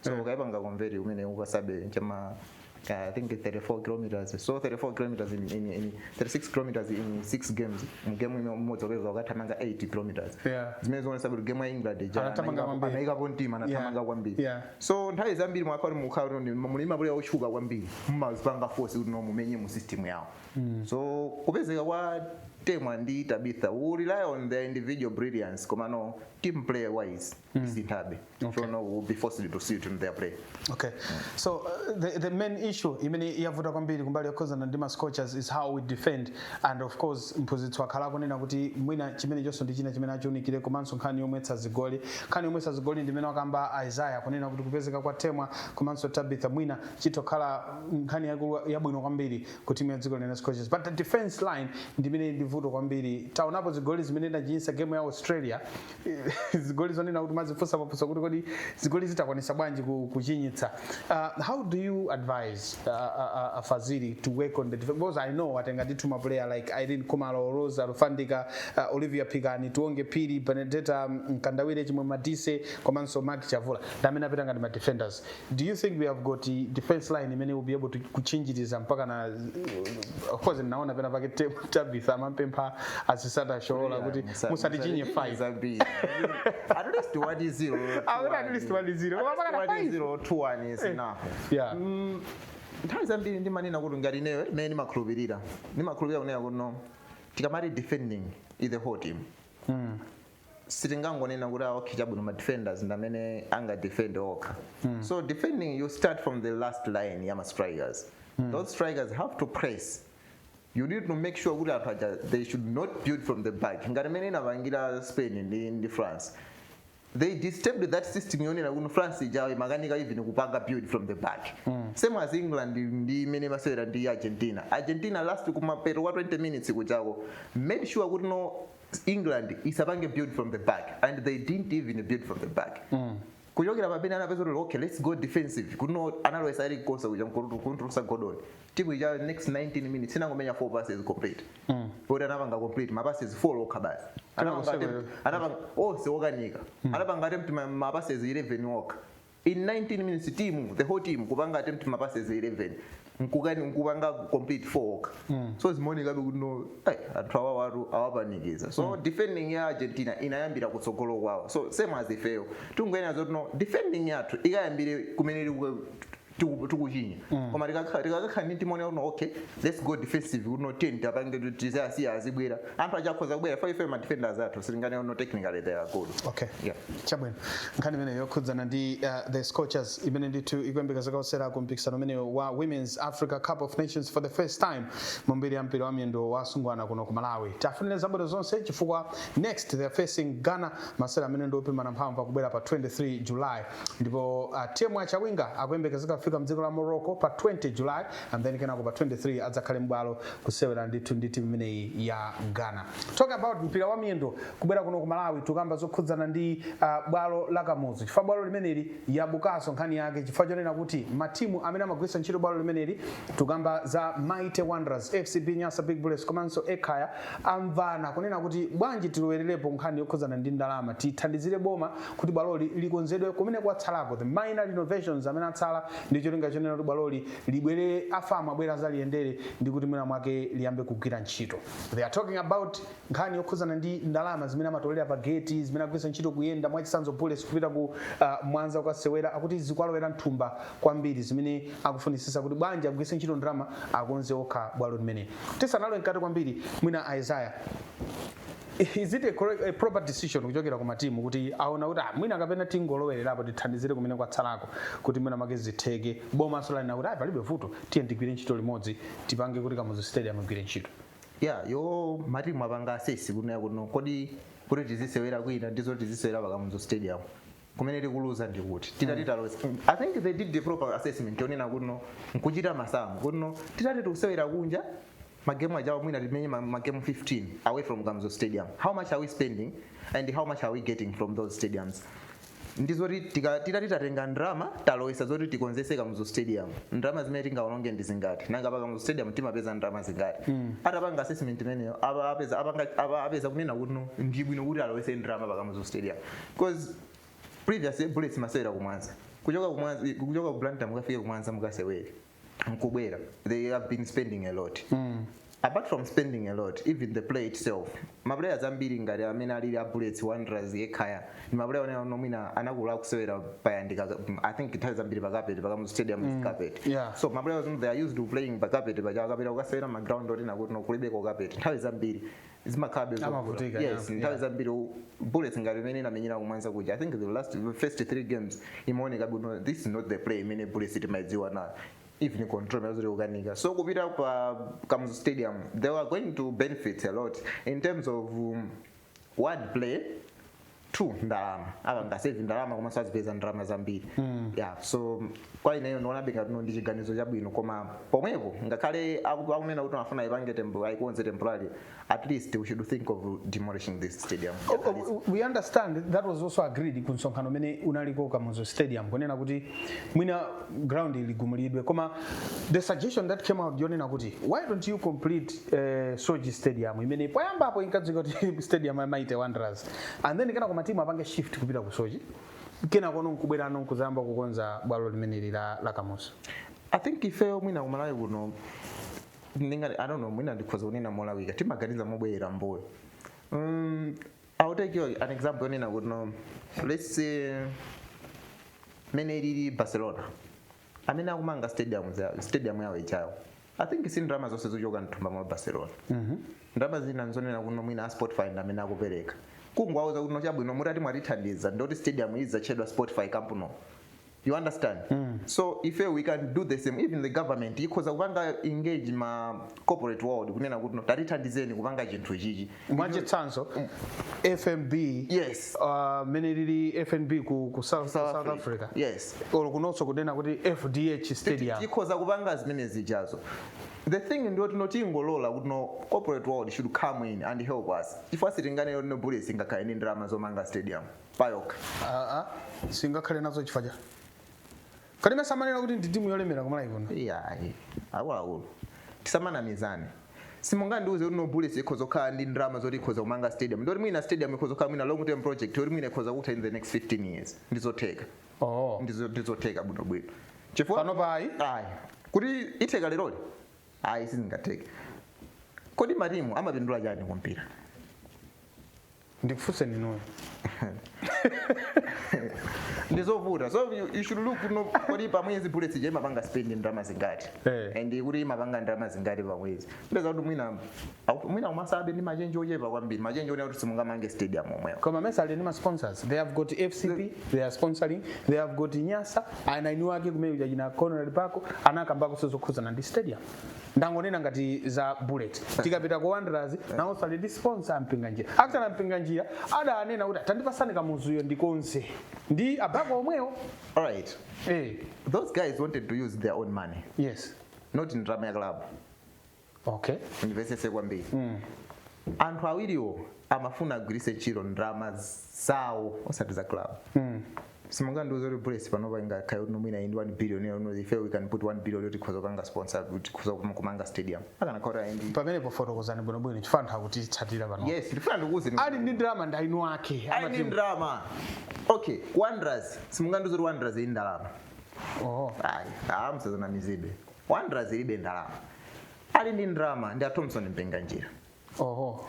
so eh. ukaipanga convert umene ukasabe chama I think 34 kilometers so 34 kilometers in, in, in 36 kilometers in 6 games game imodzi ukupeza akuthamanga 8 kilometers yeah. zimene zikuonetsa kuti game ya england anaikapo mtima anathamanga yeah. kwambiri yeah. so nthawi zambiri mukati mukhala muli mapuleya otchuka kwambiri mumazipanga force kuti no mumenye mu system yawo mm. so kupezeka kwa temwa ndi tabitha we rely on their individual brilliance komano team player wise mm. sinthabe Okay. no we'll be forced to see it in their play okay so uh, the, the main issue imene yavuta kwambiri kumbali yokhuzana ndi mascorchers is how we defend and of course mphunzitsi wakhala akunena kuti mwina chimenechonso ndi china chimene achiunikire komanso nkhani yomwetsa zigoli nkhani yomwetsa zigoli ndimene wakamba isaya kunena kuti kupezeka kwa temwa komanso tabitha mwina chitokhala nkhani yakulu- yabwino kwambiri ku timu ya dziko lino scorchers but the defense line ndimene ndivuto kwambiri taonapo zigoli zimene inachinyisa game ya australia zigoli zonena kuti umazifunsa mafunso kuti kodi zigolizi takwanisa bwanji ku- kuchinyitsa uh, how do you advise uh, uh, uh, fazili to work on the def- because i know atenga ndithu maplayer like ireen khumalo rose alufandika uh, olivia phikani tionge phiri benadetta mkandawire chimwe madise komanso maggie chavula ndi amene apita ngati madefenders Do you think we have got the defense line imene will be able to kuchinjiriza mpaka na of course naona pena pake te- Tabitha amampempha asisat oshoala kuti musatichinye 5 at least one zero Awona at least what is zero. Koma mpaka na what is five. zero two one is enough yeah nthawi zambiri ndimanena kuti ngati ineyo imene ndimakhulupirira ndimakhulupirira kunena kuti no tikamati defending is the whole team sitingangonena kuti ah, okay chabwino ma defenders ndi amene angadefend okha so defending you start from the last line ya ma strikers those strikers have to press you need to make sure kuti anthu aja they should not build from the back ngati mmene inapangira spain ndi, ndi france they disturbed that system yonena kuti france ijayo imakanika even kupanga build from the back same as england ndi mmene imasewera ndi argentina argentina last kumapeto kwa 20 minutes kujako made sure kuti no england isapange build from the back and they didn't even build from the back mm. kuchokera pamene anapeza kuti okay let's go defensive kuno analowesa ezri konsa kuja kumtulusa gordon timu ija next 19 minutes inangomenya 4 passes complete mm. poti anapanga complete mapasses 4 okha basi anapanga onse okanika mm. anapanga attempt mapasses 11 okha in 19 minutes team the whole team kupanga attempt ma passes 11 nkukani nkupanga complete 4 okha so zimaonekabe kuti no ai, anthu awawatu awapanikiza so defending ya argentina inayambira kutsogolo kwawo so same as ifeyo tingoyenera zoti no defending yathu ikayambire kumene tiku- tiku- tikuchinya koma tikakha- tikakakhala ndi timu yonena kuti no okay let's go defensive kuti no tiyeni tipange tizasiya azibwera anthu aja akhoza kubwera fa ife ma defenders athu sitinganene no technically they are good okay yeah chabwino nkhani imene yokhudzana ndi uh, the scorchers imene ndithu ikuyembekezeka kukasewera ku mpikisano umene wa women's africa cup of nations for the first time mu mbiri ya mpira wa miyendo wa asungwana kuno ku malawi tiwafunire zabwino zonse chifukwa next they are facing ghana masewera amene ndi opimana mphamvu akubwera pa 23 july ndipo uh, temwa chawinga akuyembekezeka kufika mdziko la morocco pa 20 july and then kenako pa 23 adzakhale m'bwalo kusewera ndithu ndi timu imeneyi ya ghana talk about mpira wa miyendo kubwera kuno ku malawi tikukamba zokhudzana ndi uh, bwalo la kamuzu chifukwa bwalo limeneli yabukanso nkhani yake chifukwa chonena kuti matimu amene amagwiritsa ntchito bwalo limeneli tikukamba za mighty wanderers fcb nyasa big bullets komanso ekhaya amvana kunena kuti bwanji tilowererepo nkhani yokhudzana ndi ndalama tithandizire boma kuti bwaloli likonzedwe kumene kwatsalako the minor renovations amene atsala ndi cholinga chonena kuti bwaloli libwerere a fam abwere azaliyendere ndi kuti mwina mwake liyambe kugwira ntchito they are talking about nkhani yokhuzana ndi ndalama zimene amatolera pa gate zimene akugwiritsa ntchito kuyenda mwachisanzo bullets kupita ku uh, mwanza kukasewera akuti zikwalowera mthumba kwambiri zimene akufunisisa kuti bwanji agwiritse ntchito ndalama akonze okha bwalo limeneli tisanalowe mkati kwambiri mwina isaiah is it a, correct, a proper decision kuchokera ku matimu kuti aona kuti ah, mwina kapena tingolowererapo tithandizire kumene kwatsalako kuti mwina make zitheke bomanso lanena kuti ayi palibe vuto tiyeni tigwire ntchito limodzi tipange kuti kamuzu stadium igwire ntchito ya yo matimu apanga asesi kunena kuti no kodi kuti tizisewera kwina ndi zoti tizisewera pa kamuzu stadium kumene tikuluza ndi kuti titati taloza i think they did the proper assessment yonena kuti no nkuchita masamu kuti no titati tikusewera kunja magemu aja mwina timenye ma- magemu 15 away from kamuzu stadium how much are we spending and how much are we getting from those stadiums ndizoti tika- titati tatenga ndrama talowesa zoti tikonzese kamuzu stadium ndrama zimene tingaononge ndi zingati nanga pa kamuzu stadium timapeza ndrama zingati atapanga assessment imeneyo apa- apeza- apanga- apa- apeza kunena kuti no, ndi bwino kuti alowese ndrama pa kamuzu stadium because previously bullets imasewera kumwanza kuchoka kumwanza kuchoka ku blantyre mukafike kumwanza mukasewere nkubwera they have been spending a lot apart from spending a lot even the play itself maplayers ambiri ngati amene alili a bullets wanderers ekhaya ndi maplayer onena kuti no mwina anakula akusewera payandika i think nthawi zambiri pakapeti pa kamuzu stadium is carpet yeah. so maplayers they are used to playing pakapeti pamene akapita kukasewera maground onena kuti no kulibeko kapeti nthawi zambiri zimakhalabe zovuta. Amavutika, yeah, yes nthawi yeah. zambiri u- bullets ngati mmene inamenyera kumwanza kuja i think the last the first three games imaoneka kuti no this is not the play imene bullets timaidziwa nayo even control ikukanika so kupita pa kamuzu stadium they are going to benefit a lot in terms of um, one play two ndalama apanga save ndalama komanso azipeza ndalama zambiri yeah so kwa ineyo ndionabe ngati no ndi chiganizo chabwino koma pomwepo ngakhale aku- akunena kuti afuna ipange tempo ayikonze temporary at least we should think of demolishing this stadium Oh, oh, we understand that was also agreed ku msonkhano umene unaliko kamuzu stadium kunena kuti mwina ground iligumulidwe koma the suggestion that came out yonena kuti why don't you complete uh, soche stadium imene poyambapo inkadziwika kuti stadium ya mighty wanderers and then kenako matimu apange shift kupita ku soche kenakono nkubwerano nkudzayamba kukonza bwalo limeneli la, la kamuzu i think ifeyo mwina kumalawi kuno kuti no i don't know mwina ndikhoza kunena malawi timaganiza mobwerera mbuyo um, i'll take you an example yonena kuti no, let's say mene ilili barcelona amene akumanga stadium za- stadium yawo ijayo i think si ndalama zonse zochoka mthumba mwa barcelona ndalama zina nzonena kuno mwina a spotify ndi amene akupereka kungwauza kuno chabwino mutati mwatithandiza ndoti stadium idzatchedwa spotify camp no you understand so ife we can do the same even the government ikhoza kupanga engage ma corporate world kunena kuti no tatithandizeni kupanga chinthu chichi mwachitsanzo fnb Yes. uh, mene lili fnb ku, ku south, South south Africa. africa Yes. olo kunonso kunena kuti fdh stadium tikhoza kupanga zimene zijazo the thing ndi yoti no tingolola kuti no corporate world should come in and help us chifukwa sitinganene kuti no bullets ingakhale ndi ndalama zomanga stadium payokha Ah, ah, singakhale nazo chifukwa cha Kodi mesa amanena kuti ndi timu yolemera ku Malawi kuno. Iyayi, akuluakulu tisamanamizane. Simungandiuze kuti no bullets ikhoza kukhala ndi ndalama zoti ikhoza kumanga stadium. Ndoti mwina stadium ikhoza kukhala mwina long term project yoti mwina ikhoza kutha in the next 15 years. Ndi zotheka. Oh. Ndi zo- ndi zotheka bwino bwino. Chifukwa Panopa ayi. ayi. Kuti itheka leroli? Ayi sizingatheke. Kodi matimu amapindula chani kumpira? ndikufunseni inuyo ndizovuta so you, you should look no kodi pamwezi bullets ija imapanga spend ndalama zingati Eh. and kuti imapanga ndalama zingati pamwezi upeza kuti mwina au- mwina umatsala ndi machenji ochepa kwambiri machenji onena kuti simungamange stadium omwewo koma mesa ali ndi ma sponsors they have got fcb they are sponsoring they have got nyasa eni ake amene aja achina conrad buckle anakambakonso zokhudzana ndi stadium ndangonena ngati za bullets tikapita ku wanderers nawonso ali ndi sponsor a mpinganjira akutani a mpinganjira adanena kuti tandipatsani kamuzuyo ndikonze ndi a buckle omwewo All right. eh Those guys wanted to use their own money, yes not ndalama ya club. okay undimvetsetse kwambiri. Anthu awiriwo amafuna agwiritse ntchito ndalama zawo osati za club. simungandiuze kuti bullets panopa ingakhale kuti no mwina ili ndi 1 billion ndi no ife we can put 1 billion yoti tikhoza kupanga sponsor kuti tikhoza kum- kumanga stadium akanakhala kuti ndithu pamenepo fotokozani bwinobwino chifukwa anthu akutitsatira pano yes ndifuna ndikuuze ndi- ali ndi ndalama ndi eni ake ali ndi amati ndalama okay wanderers simungandiuze kuti wanderers ili ndi ndalama oh ayi musadzanamizidwe wanderers ilibe ndalama ali ndi ndalama ndi a thompson mpinganjira oh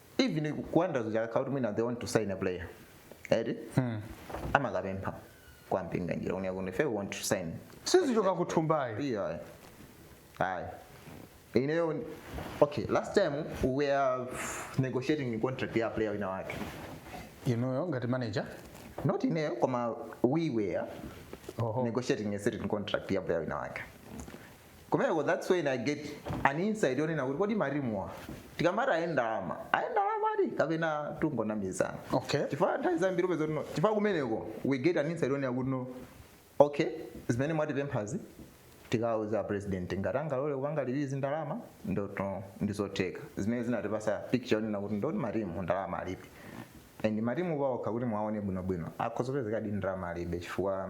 even ku wanderers ija akakhala kuti mwina they want to sign a player eti amakapempha kwa mpinganjira mlinganjira you hear kuti ife we want to sign sizichoka kuthumbayo iyo ayi ayi ineyo ni- okay last time we were negotiating contract ya player wina wake inuyo ngati manager not ineyo koma we were Oho. negotiating a certain contract ya player wina wake kumeneko that's when i get an insight yonena kuti kodi matimuwa tikamati ali ndi ndalama ali ndi ndalama eti kapena tungonamizana Okay. chifukwa nthawi zambiri upeza kuti no chifukwa kumeneko we get an insight yonena kuti no okay zimene mwatipemphazi tikauza president ngati angalole kupanga release ndalama ndiye kuti ndizotheka zimene zinatipasa picture yonena kuti ndiye kuti matimu ndalama alibe and matimu paokha kuti muwaone bwinobwino akhoza kupezeka kuti ndalama alibe chifukwa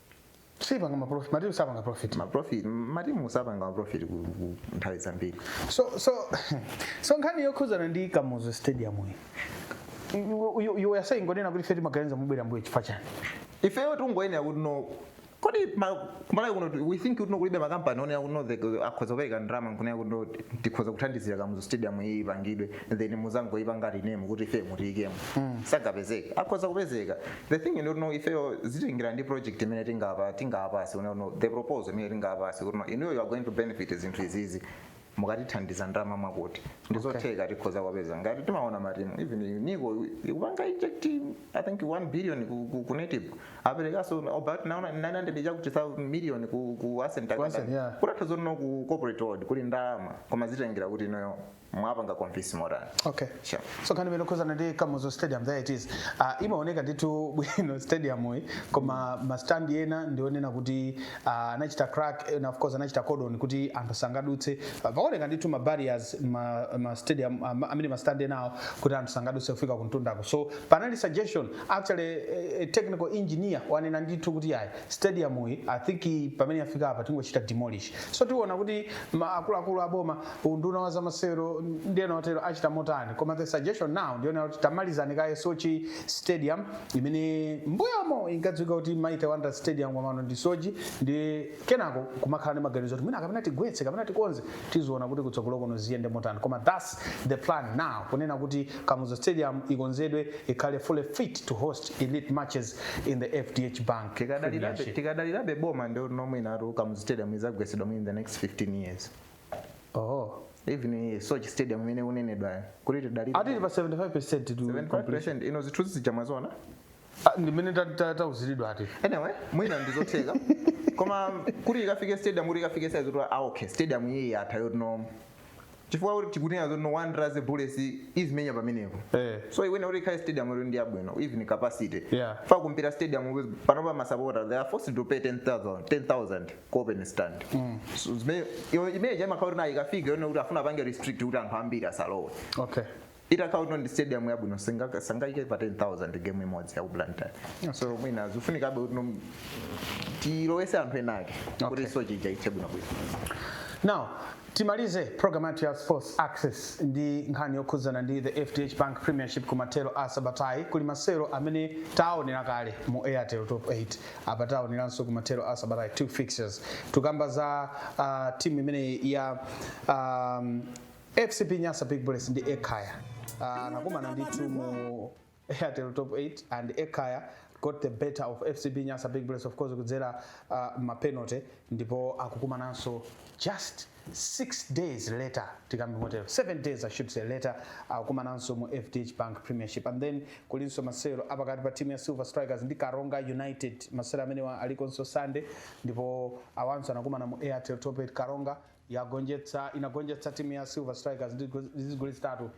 sapanga ma profit matimu sapanga profit ma profit matimu sapanga ma profit ku ku- nthawi zambiri so so so nkhani yokhuzana ndi kamuzu stadium iyi You- you- you were saying ngonena kuti ife timaganiza mobwerera mmbuyo chifukwa chani ifeyo tingoonera kuti no kodi ma- kumalawi kuno tu- we think kuti no kulibe makampani onena kuti no the- akhoza kupereka ndalama nkunena kuti no tikhoza kuthandizira kamuzu stadium iyi ipangidwe then muzangoipanga rename kuti ife mutiyikemo sangapezeke akhoza kupezeka the thing ndiyoti no ifeyo zitengera ndi project imene tingapa tingapatse you know the proposal imene tingapatse kuti no inuyo you are going to benefit zinthu izizi mukatithandiza ndalama mwakuti ndizotheka tikhoza kuwapeza ngati timaona matimu even nico ikupanga inject i think 1 billion ku, ku, ku netball aperekaso about naona 900 chakuti 1000 million ku, ku ascent Ku Ascent, yeah. kutanthauza no ku corporate world kuli ndalama koma zitengera kuti inuyo mwapanga convince motani okay sure. so nkhani imene ikukhudzana ndi kamuzu stadium there it is uh, imaoneka ndithu bwino stadium yi koma mastand ena ndi onena kuti uh, anachita crack and of course anachita cordon kuti anthu sangadutse uh, paoneka ndithu ma barriers ma, ma stadium uh, ma- amene mastand enawo kuti anthu sangadutse kufika kumtundako so panali suggestion actually eh, eh, technical engineer wanena ndithu kuti ayi stadium yi i think i- pamene yafika apa tingochita demolish so tiona kuti ma- akuluakulu aboma unduna wa zamasewero ndi ena otero achita motani koma the suggestion now ndi yonena kuti tamalizani kaye soche stadium imene mbuyomo inkadziwika kuti mighty wanderers stadium komano ndi soche ndiye kenako kumakhala ndi maganizo kuti mwina kapena tigwetse kapena tikonze tiziona kuti kutsogolo kuno ziyende motani koma thats the plan now kunena kuti kamuzu stadium ikonzedwe ikhale fully fit to host elite matches in the fdh bank tikadalirabe Premiership. tikadalirabe boma ndiye mwinatu kamuzu stadium izagwesedwa in the next 15 years oho even iyi sochi stadium imene ikunenedwayo kuti tidalire ati ili pa 75 percent to completion 75% ino zithunzi zija mwaziona Ah, ndimene ta- ta- tauziridwa ati anyway mwina ndizotheka koma kuti ikafike stadium kuti ikafike size yoti ah okay stadium iyi yatha yoti no chifukwa kuti tikunena zoti no wanderers bullets izimenya pamenepo Eh. so iwene kuti ikhale stadium yoti ndi yabwino even capacity Yeah. fa kumpira stadium panopa masapota they are forced to pay 10000 10000 kuopen stand So, zimene- iyo- imene chaimakhala kuti nayo ikafika yonena kuti afuna apange restrict kuti anthu ambiri asalowe okay itakhala kuti ndi stadium yabwino singa- sangaike pa 10000 game imodzi yakublantyre so mwina zifunikabe kuti nom- tilowese anthu enake kuti Okay. sochi ija ithe bwinobwino now timalize program yathu ya sports access ndi nkhani yokhudzana ndi the fdh bank premiership kumathero a sabatayi kuli masewero amene taonera kale mu airtel top 8 apa taoneranso kumathero a sabatayi two fixtures tukamba za uh, timu imeneyi ya um, fcb nyasa big bullets ndi ekaya uh, anakumana ndithu mu airtel top 8 and ekaya got the better of fcb nyasa big bullets of course kudzera uh, mapenalty ndipo akukumananso just 6 days later tikambe motero 7 days i should say later akukumananso mu fdh bank premiership and then kulinso masewero apakati pa timu ya silver strikers ndi karonga united masewero amenewa alikonso sunday ndipo awanso anakumana mu airtel top 8 karonga yagonjetsa inagonjetsa timu ya silver strikers ndi go- ndi zigoli zitatu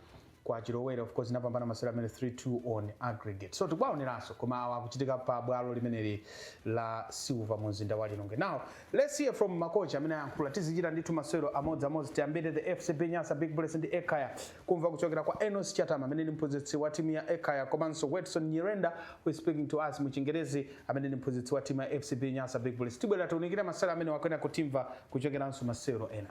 kwa chilowere of course inapambana masewero amene 3-2 on aggregate so tikuwaoneranso koma awa akuchitika pa bwalo limeneli la silver mu mzinda wa lilongwe now let's hear from makocha amene ayankhula tizichita ndithu masewero amodzi amodzi tiyambire the fcb nyasa big bullets ndi ekaya kumva kuchokera kwa enos chatama amene ndi mphunzitsi wa timu ya ekaya komanso wedson nyirenda who is speaking to us mu chingerezi amene ndi mphunzitsi wa timu ya fcb nyasa big bullets tibwera tiunikire masewero amene wakwena kutimva kuchokeranso masewero ena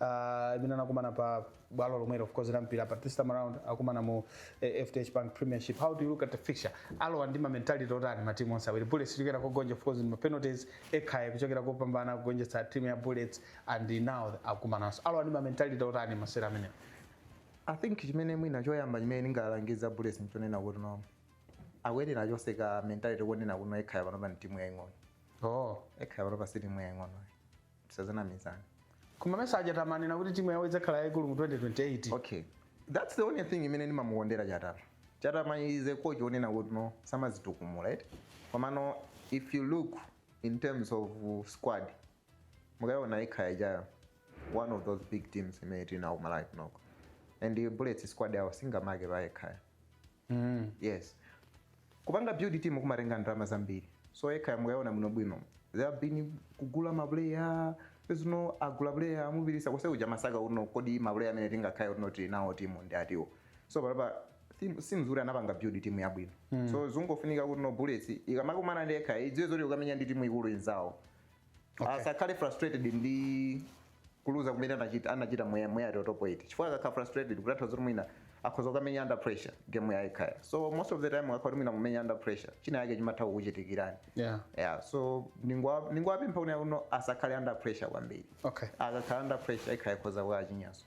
uh, imene anakumana pa bwalo lomwelo of course la mpira but this time around akumana mu eh, FDH Bank Premiership how do you look at the fixture alowa ndi ma mentality otani ma team onse awiri Bullets kuchokera kogonja of course ndi ma penalties Ekhaya kuchokera kopambana kugonjetsa team ya Bullets and now akumananso alowa ndi ma mentality otani masewero amenewa i think chimene mwina choyamba chimene ndingalangiza bullets nchonena kuti no akuyenera achotse ka mentality konena kuti no ekhaya panopa ndi timu yaing'ono oh ekhaya panopa si timu yaing'ono tisamanamizane koma mesa aja tamanena kuti timu yawo idzakhala yayikulu mu 2028 okay that's the only thing imene ndimamukondera chatama chatama is a coach onena kuti no samadzitukumula right komano if you look in terms of uh, squad mukayiona ekhaya ija ndi one of those big teams imene tinawo malawi kunoko and bullets squad yawo singamake pa ekhaya mm. yes kupanga build team kumatenga ndalama zambiri so Ekhaya mukaiona bwinobwino they have been kugula maplayer kuti no agula player amupirisa coach uja amasaka kuti no kodi maplayer amene tingakhale kuti no tili nawo timu ndi ati so panopa zikusonyeza kuti anapanga build timu yabwino mm. so zungofunika kuti no bullets ikamakumana ndi Ekhaya idziwe zoti ikukamenya ndi timu ikulu inzawo Okay. asakhale frustrated ndi kuluza kumene anachita anachita mu Airtel Airtel top 8 chifukwa akakhala frustrated kutanthauza zoti mwina akhoza kukamenya under pressure game ya Ekhaya so most of the time ukakhala mwina ukumenya under pressure chinachake chimatha kukuchitikirani Yeah. yeah so ningwa ningwapempha kuti no asakhale under pressure kwambiri Okay. akakhala under pressure Ekhaya ikhoza kukawachinyanso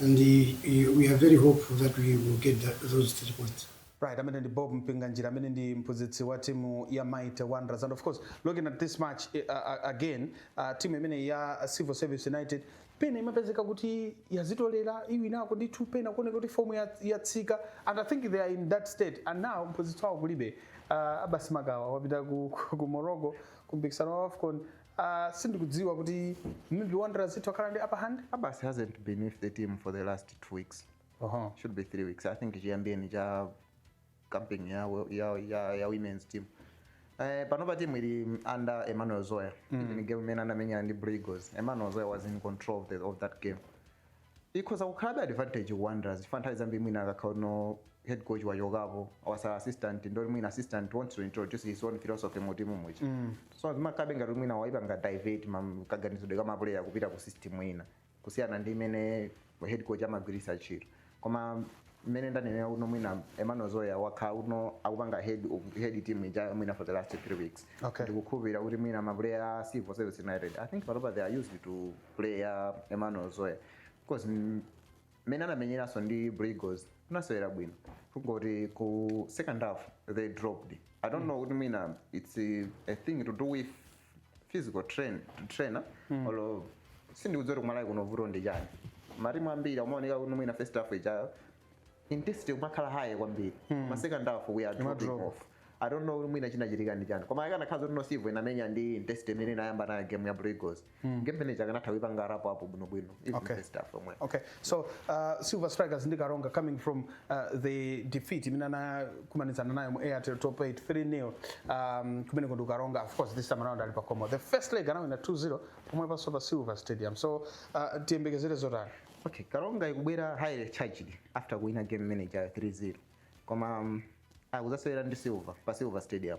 and we are very hopeful that we will get that, those three points. Right, ameneyo ndi Bob Mpinganjira amene ndi mphunzitsi wa timu ya Mighty Wanderers and of course looking at this match uh, uh, again uh, timu imeneyi ya Civil Service United pena imapezeka kuti yazitolera iwinako ndithu pena kuoneka kuti fomu yatsika and I think they are in that state and now mphunzitsi wawo kulibe uh, Abbas Makawa wapita ku, ku, ku Morocco ku mpikisano wa AFCON Uh, sindikudziwa kuti maybe Wanderers ithu akhala ndi upper hand. Abasi hasn't been with the team for the last two weeks. Uh -huh. Should be three weeks. I think chiyambiyeni cha camping ya, ya, ya, ya women's team. Eh, panopa timu ili under Emmanuel Zoya. Mm. Even game imene anamenyana ndi Blue Eagles. Emmanuel Zoya was in control of, the, of that game. ikhoza kukhalabe advantage ku Wanderers chifukwa nthawi zambiri mwina akakhala kuti no head coach wachokapo watsala assistant ndiye kuti mwina assistant wants to introduce his own philosophy mu timu muja so zimakhalabe ngati kuti mwina waipanga divert ma- kaganizidwe ka mapuleya kupita ku system ina kusiyana ndi imene head coach amagwiritsa ntchito koma mmene ndanenera kuti no mwina emmanuel zoya wakhala kuti no akupanga head head team ija mwina for the last three weeks Okay. ndikukhulupirira kuti mwina mapuleya a civil service united i think panopa they are used to play ya emmanuel zoya because mm, mmene anamenyeranso ndi Blue Eagles anasewera bwino kungoti ku second half they dropped i don't know kuti mwina it's a, a thing to do with physical train, trainer mm. olo sindikudziwa kuti ku Malawi kuno vuto ndi chani matimu ambiri amaoneka kuti mwina first half ija intensity imakhala high kwambiri mm. ma second half we are dropping off I don't know mwina chinachitika ndi chani koma akanakhala zoti no Civo inamenya ndi intensity imene inayamba nayo game ya Blue Eagles mm. game imene ija akanatha kuipanga wrap up bwino bwino okay. first half yomwe. Okay. So uh, Silver Strikers ndi Karonga coming from uh, the defeat imene anakumanizana nayo mu Airtel Top 8 3-0 um, kumeneku ndi Karonga of course this time around ali pakomo. The first leg anawina 2-0 pomwepanso pa Silver Stadium. So uh, tiyembekezere zotani. Okay, Karonga ikubwera highly charged after kuwina game imene ija 3-0. Koma um, akudzasewera ndi Silver pa Silver Stadium.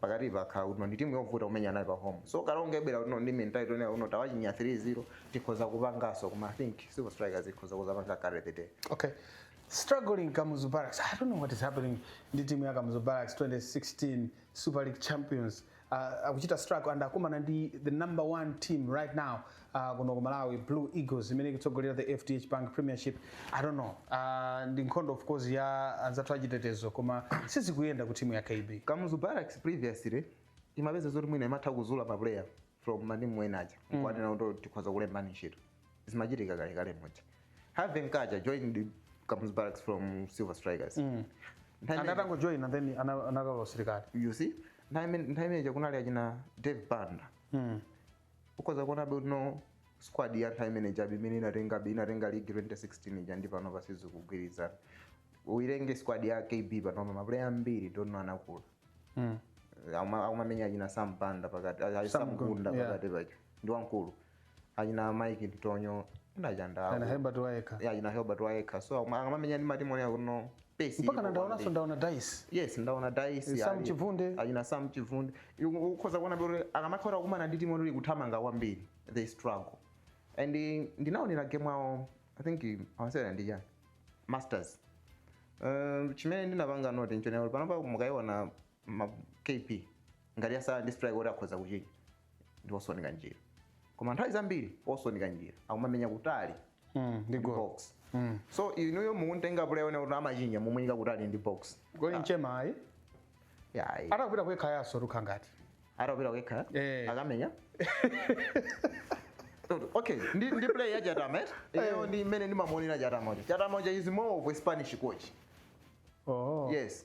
pakatipa yakhala kuti no ndi timu yovuta kumenya nayo pa home so Karonga ibwera kuti no ndi mentality yonena kuti no tawachinya 3-0 tikhoza kupanganso koma i think silver strikers ikhoza kudzapanga carry the day Okay. Struggling Kamuzu Barracks. I don't know what is happening. Ndi timu ya Kamuzu Barracks 2016 Super League champions. Uh, akuchita struggle and akumana ndi the number one team right now uh, kuno ku malawi blue eagles imene ikutsogolera the fdh bank premiership i don't know uh, ndi nkhondo of course ya anzathu achitetezo koma sizikuyenda ku timu ya kb kamuzu barracks previously imapeza zoti mwina imatha kuzula ma player from matimu ena aja nkuanena kuti tikhoza kulembani ntchito zimachitika kalekale muja harvey nkacha joined kamuzu barracks from silver strikers Nthawi imene- anatangojoina then ana- anakalowa usilikali you see nthawi imene- nthawi imeneja kunali achina dave banda ukhoza kuona bwino squad ya nthawi imene chabe imene inatenga be inatenga league 2016 ija ndi panopa sizikugwirizana uilenge squad ya kb pano mapuleya ambiri dono anakula Mm. Akuma- akumamenya achina sam banda pakati a- a- Sam Gunda, sam gunda yeah. pakati pacho ndi wamkulu achina mike ntonyo Ana nachandawo Herbert Wayekha. achina herbert wayekha so akuma- akamamenya ndi matimu onena kuti no Pace mpaka ilipo na ndaonanso kwambiri. ndaona daisi yes ndaona daisi Sam ali- Chivunde. achina sam chivunde Iku- ukhoza kuona kuti akamakhala kukumana ndi timu ili kuthamanga kwambiri they struggle and eh, ndinaonera game awo i think akusewera ndi chani masters Um, chimene ndinapanga note nchonena panopa mukayiona kb ngati yatsala ndi striker oti akhoza kuchinya ndi olson kanjira koma nthawi zambiri olson kanjira akumamenya kutali Mm, ndi goal. box Mm. so inuyo mukuntenga player onena kuti amachinya mumuyika kutali ndi box Goli nchema ayi. yayi Atakupita ku Ekhaya so lukha ngati. atapita ku Ekhaya Eh. akamenya okay ndi, ndi play ya chatama eti iyo ndi mmene ndimamuonera chatama uja chatama uja is more of a spanish coach Oh. yes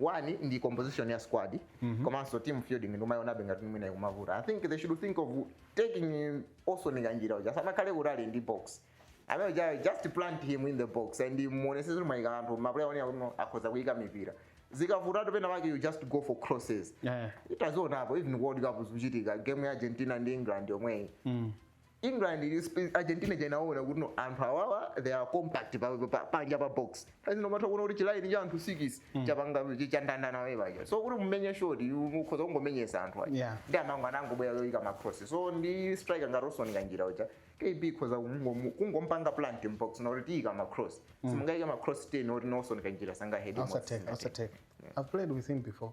one ndi composition ya squad komanso team fielding ndikumayionabe ngati mwina ikumavuta i think they should think of taking olson kanjira uja asamakhale kutali ndi box amene uja just plant him in the box and muonesese kuti mwayika anthu mapuleya onena kuti no, akhoza kuyika mipira zikavutatu pena pake you just go for crosses Yeah. tazionapo even world cup zikuchitika game ya argentina ndi england yomweyi England ili sp- Argentina inaona kuti no anthu awawa they are compact pa, pa, panja pa box as in umatha kuona kuti chilaini cha anthu 6 chapanga chi- chandandana we paja so kuti mumenye shot mukhoza kungomenyesa anthu aja Yeah. nde amango- anangobwera yoyika macross so ndi striker ngati Olson kanjira uja kb ikhoza kungomu- kungompanga plant m'box na kuti tiyika macross simungayike macross 10 oti no Olson kanjira sangahedi I'll take, I'll take. I've played with him before.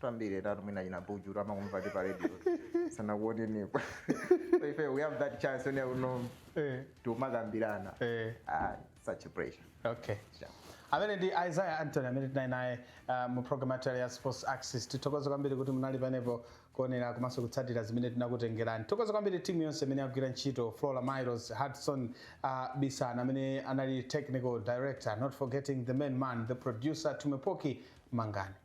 tambire tatu mwina china buju amakumvani pa radio sanakuonenipo so ife we have that chance you know Eh. tikumakambirana Eh. ah, such a pleasure okay yeah. amene ndi isaiah antony amene tinali naye uh, mu program yathu ya sports axis tithokoze kwambiri kuti munali panepo kuonera komanso kutsatira zimene tinakutengerani tithokoze kwambiri timu yonse imene yagwira ntchito flora miles hudson uh, bisan amene anali technical director not forgetting the main man the producer tumepoki mangani